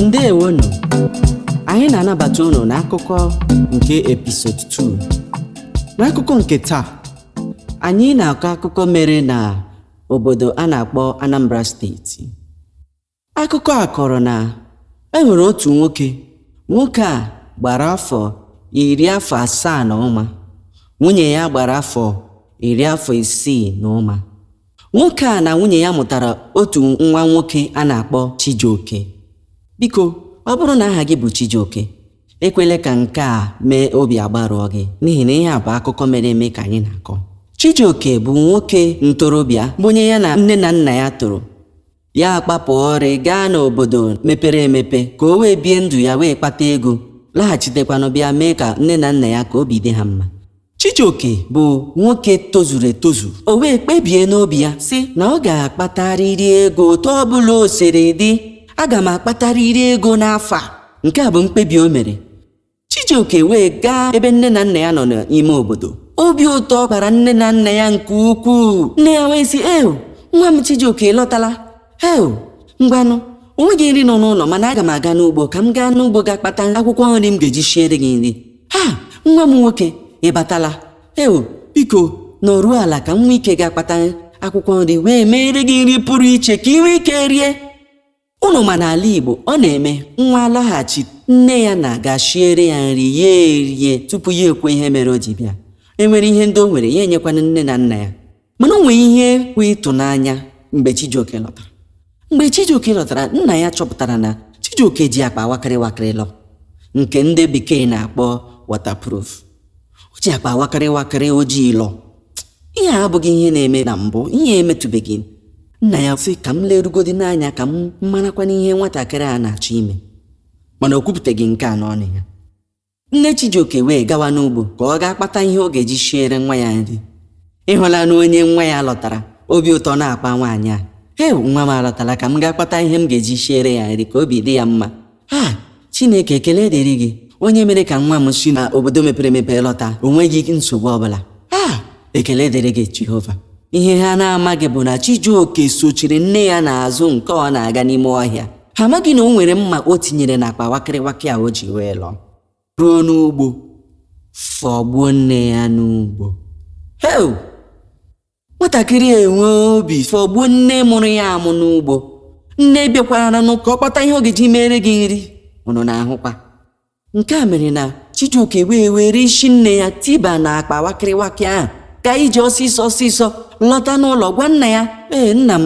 ndewonụ anyị na-anabata unu n'akụkọ nke episode 2 n'akụkọ nke taa anyị na-akọ akụkọ mere na obodo a na-akpọ anambra steeti akụkọ a kọrọ na e nwere otu nwoke nwoke a gbara afọ iri afọ asaa na ụma nwunye ya gbara afọ iri afọ isii na ụma Nwoke a na nwunye ya mụtara otu nwa nwoke a na-akpọ Chijioke. Biko, ọ bụrụ na aha gị bụ Chijioke, ekwela ka nke a mee obi agbarụọ gị n'ihi na ihe a bụ akụkọ mere eme ka anyị na-akọ. Chijioke bụ nwoke ntorobịa bụ onye ya na nne na nna ya toro. ya akpapụ ọrị gaa n'obodo mepere emepe ka o wee bie ndụ ya wee kpata ego laghachitekwanụ bịa mee ka nne na nna ya ka obi dị ha mma Chijioke bụ nwoke tozuru etozu o wee kpebie n'obi ya sị na ọ ga-akpatarịrị ego otu ọ bụla o siri dị aga m akpatarịrị ego n'afọ a nke a bụ mkpebi o mere Chijioke wee gaa ebe nne na nna ya nọ n'ime obodo obi ụtọ kpara nne na nna ya nke ukwuu nne ya wee sị eo nwa m Chijioke lọtala eo ngwanụ o nweghị nri nọ n'ụlọ mana aga m aga n'ugbo ka m gaa n'ugbo gaa kpata akwụkwọ nri m ga-eji siere gị nri ha nwa m nwoke ị batala eo biko nọruo ala ka m nwee ike gaa kpata akwụkwọ nri wee meere gị nri pụrụ iche ka ị nwee ike rie Unu ma n'ala Igbo, ọ na-eme nwa lọghachi nne ya na-aga shiere ya nri ya erie tupu ya ekwuo ihe mere o ji bịa. E nwere ihe ndị o nwere ya enyekwanụ nne na nna ya. Mana o nwee ihe bụ ịtụnanya mgbe Chijioke lọtara. Mgbe Chijioke lọtara, nna ya chọpụtara na Chijioke ji akpa wakịrị wakịrị lọ nke ndị bekee na-akpọ waterproof. o ji akpa wakịrị wakịrị ojii lọ ihe a abụghị ihe na-eme na mbụ ihe emetụbeghị nna ya sị ka m lerugodi n'anya ka m marakwanụ ihe nwatakịrị a na-achọ ime mana o kwupụtaghị nke a n'ọnụ ya nne Chijioke wee gawa n'ugbo ka ọ gaa kpata ihe ọ ga-eji shiere nwa ya nri ị hụlanụ onye nwa ya lọtara obi ụtọ na-akpa nwaanyị a he nwa m alọtala ka m gaa kpata ihe m ga-eji shiere ya nri ka obi dị ya mma ha chineke ekele dịrị gị onye mere ka nwa m si na obodo mepere emepe lọta o nweghị nsogbu ọbụla ha ekele dịrị gị jehova ihe ha na-amaghị bụ na chijioke sochiri nne ya n'azụ nke ọ na-aga n'ime ọhịa ha amaghị na o nwere mma o tinyere n'akpa wakịrịwakị a o ji wee lọ ruo n'ugbo fọgbuo nne ya n'ugbo heu nwatakịrị a enwee obi fọgbuo nne mụrụ ya amụ n'ugbo nne bịakwaranụ ka ọ kpata ihe ọ ga-eji meere gị nri unu na-ahụkwa nke a mere na chijioke wee were isi nne ya tiba na akpa wakịrịwakị ahụ ka iji ọsịsọ ọsịsọ lọta n'ụlọ gwa nna ya ee nna m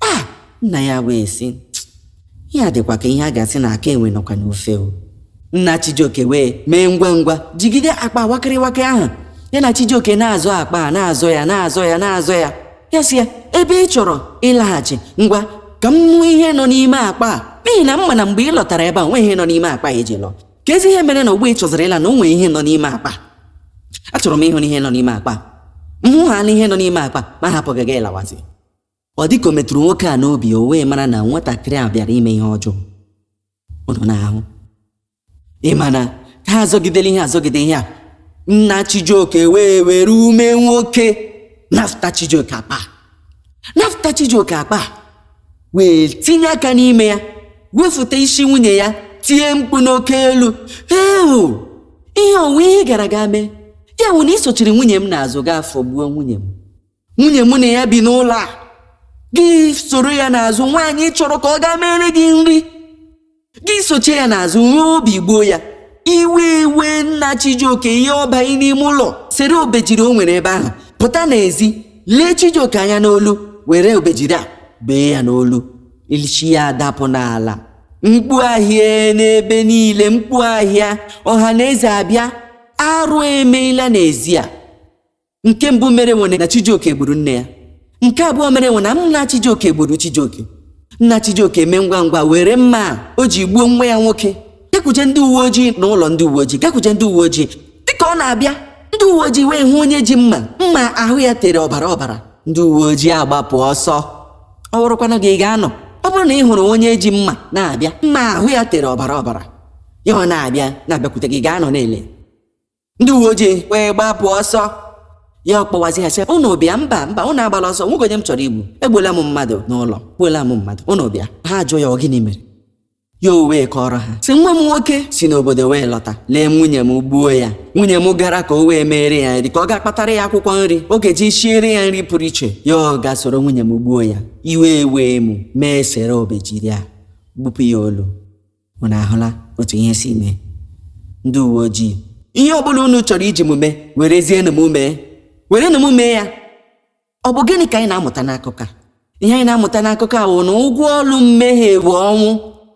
a nna ya wee sị ya dịkwa ka ihe a ga-asị na aka enwe nọkwa n'ofe o nna chijioke wee mee ngwa ngwa jigide akpa nwakịrị nwoke ahụ ya na chijioke na-azọ akpa a na-azọ ya na-azọ ya na-azọ ya ya sị ya ebe ị chọrọ ịlaghachi ngwa ka m hụ ihe nọ n'ime akpa a n'ihi na m ma na mgbe ị lọtara ebe a nwe ihe nọ n'ime akpa a i ji lọ kezi ihe mere na ugbu a ị chọziri ịla na o nwere ihe nọ n'ime akpa achọrọ m ịhụ na ihe nọ n'ime akpa m hụ ha na ihe nọ n'ime akpa m ahapụ gị gị lawazi ọ dịka o metụrụ nwoke a n'obi o wee mara na nwatakịrị a bịara ime ihe ọjọọ unu na-ahụ ị ma na ha azọgidela ihe azọgide ihe a nna chijioke wee were ume nwoke nafụta chijioke akpa nafụta chijioke akpa wee tinye aka n'ime ya wefụta isi nwunye ya tie mkpu n'oke olu ewu ihe o nwe ihe gara aga mee ya wụ na i sochiri nwunye m n'azụ gaa fọgbuo nwunye m nwunye mụ na ya bi n'ụlọ a gị soro ya n'azụ nwaanyị chọrọ ka ọ gaa mere gị nri gị sochie ya n'azụ nwee obi gbuo ya iwe ewee nna chijioke ya ọbanye n'ime ụlọ sere obejiri o nwere ebe ahụ pụta n'ezi lee chijioke anya n'olu were obejiri a bee ya n'olu isi ya adapụ n'ala mkpu ahịa n'ebe niile mkpu ahịa ọha na eze abịa arụ emeela n'ezi a nke mbụ merenụ wụ na chijioke gburu nne ya nke abụọ merenụ wụ na nna chijioke gburu chijioke nna chijioke mee ngwa ngwa were mma a o ji gbuo nwa ya nwoke gakwuje ndị uwe ojii na ụlọ ndị uwe ojii gakwuje ndị uwe ojii dịka ọ na-abịa ndị uwe ojii wee hụ onye ji mma mma ahụ ya tere ọbara ọbara ndị uwe ojii agbapụ ọsọ ọ bụrụkwanụ gị ị ga-anọ ọ bụrụ na ị hụrụ onye ji mma na-abịa mma ahụ ya tere ọbara ọbara ya ọ na-abịa na-abịakwute gị ị ga-anọ na-ele ndị uwe ojii wee gbapụ ọsọ ya ọkpọwazi ha sị ụnụ bịa mba mba ụnụ agbala ọsọ o nweghị onye m chọrọ igbu egbuola m mmadụ n'ụlọ egbuola m mmadụ ụnụ bịa ha jụọ ya ọ gịnị mere ya o wee kọrọ ha sị nwa m nwoke si n'obodo wee lọta lee nwunye m gbuo ya nwunye m gara ka o wee meere ya nri ka ọ gaa kpatara ya akwụkwọ nri ọ ga-eji siere ya nri pụrụ iche ya ọ gaa soro nwunye m gbuo ya iwe ewee mụ m esere obejiri a gbupụ ya olu unu ahụla otu ihe si mee ndị uwe ojii ihe ọbụla unu chọrọ iji m mee werezienụ m mee werenụ m mee ya ọ bụ gịnị ka anyị na-amụta n'akụkọ a ihe anyị na-amụta n'akụkọ a wụ na ụgwọ ọlụ mmehie bụ ọnwụ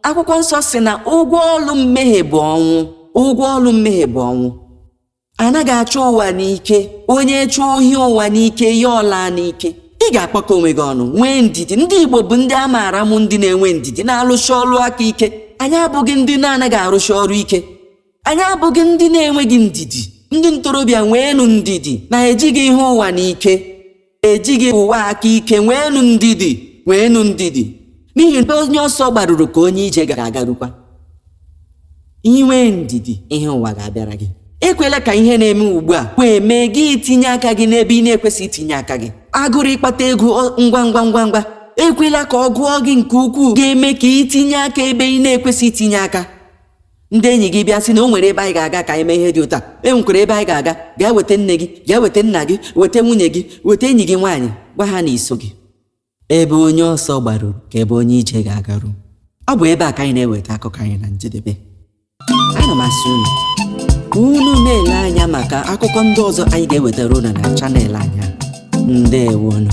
akwụkwọ nsọ sị na ụgwọ ọlụ mmehie bụ ọnwụ ụgwọ ọlụ mmehie bụ ọnwụ anaghị achọ ụwa n'ike onye chụọ ihe ụwa n'ike ya ọlaa n'ike ị ga-akpakọ onwe gị ọnụ nwee ndidi ndị igbo bụ ndị a maara bụ ndị na-enwe ndidi na-arụsi ọrụ aka ike anyị abụghị ndị na-anaghị arụsi ọrụ ike anyị abụghị ndị na-enweghị ndidi ndị ntorobịa nweenụ ndidi na ejighị ihe ụwa n'ike ejighị ụwa aka ike nweenụ ndidi nweenụ ndidi n'ihi na ebe onye ọsọ gbaruru ka onye ije ga-agarukwa i nwee ndidi ihe ụwa ga-abịara gị ekwela ka ihe na-eme ugbu a wee mee gị itinye aka gị n'ebe ị na-ekwesịghị itinye aka gị agụrụ ịkpata ego ọ- ngwa ngwa ngwa ngwa ekwela ka ọ gụọ gị nke ukwuu ga-eme ka i tinye aka ebe ị na-ekwesịghị itinye aka ndị enyi gị bịa sị na o nwere ebe anyị ga-aga ka anyị mee ihe dị otu a e nwekwara ebe anyị ga-aga gaa weta nne gị gaa weta nna gị weta nwunye gị weta enyi gị nwaanyị gwa ha na i soghị ebe onye ọsọ gbaruru ka ebe onye ije ga-agaru ọ bụ ebe a ka anyị na-eweta akụkọ anyị na njedebe ana m asị unu ka unu na-ele anya maka akụkọ ndị ọzọ anyị ga-ewetara unu na channel anyị a. ndewonụ